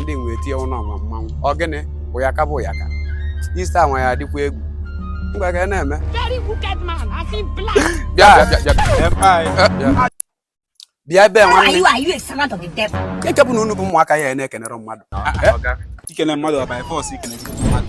ndị nwe etinye ụlọ ọma mmanwụ ọ gịnị bụ ya ka bụ ya ka ista nwa ya adịkwa egwu ngwa ka na-eme bịa ebe nwanne eke bụ na unu bụ ụmụaka ya na-ekenere mmadụ ikene mmadụ ọ by force ikene mmadụ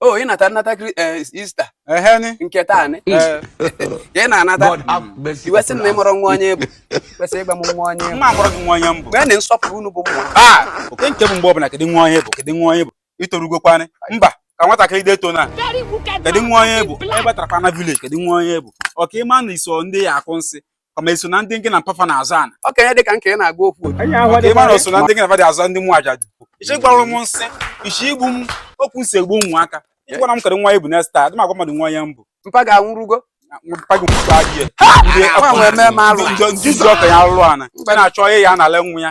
o ị nata nnata kri- eh, ista ehe ni nke taa nị Eh, ị na-anata God have mercy iwe sị na ị upon us. mụrụ nwa onye bụ kwesịrị ịgwa m nwa onye ị bụ mma amụrụ gị nwa onye m bụ mgbe na nsọpụrụ unu bụ mmụọ a oke nke bụ mgbe ọbụla kedu nwa onye ị bụ kedu nwa onye ị bụ i torugokwanị mba ka nwatakịrị deto na kedu nwa onye ị bụ ị batarakwa na village kedu nwa onye ị bụ ọ ka ị ma na i so ndị ya akụ nsi kama i so na ndị nke na mpa fa na aza ana okenye dị ka nke ị na-agwa okwu otu ị ma na i so na ndị nke na fa dị aza ndị mụ aja dị ị chọ ịgwọrọ m nsi ị chọ igbu m ọkụ nsi egbu ụmụaka ịgwara m kedu nwa onye ị bụ next time adịm agwa mmadụ nwa onye m bụ mpa gị anwụrụgo mpa gị mkpụkọ adị ya ndị okenye alụrụ ana ị na-achọ ihe ya na-ala nwa ya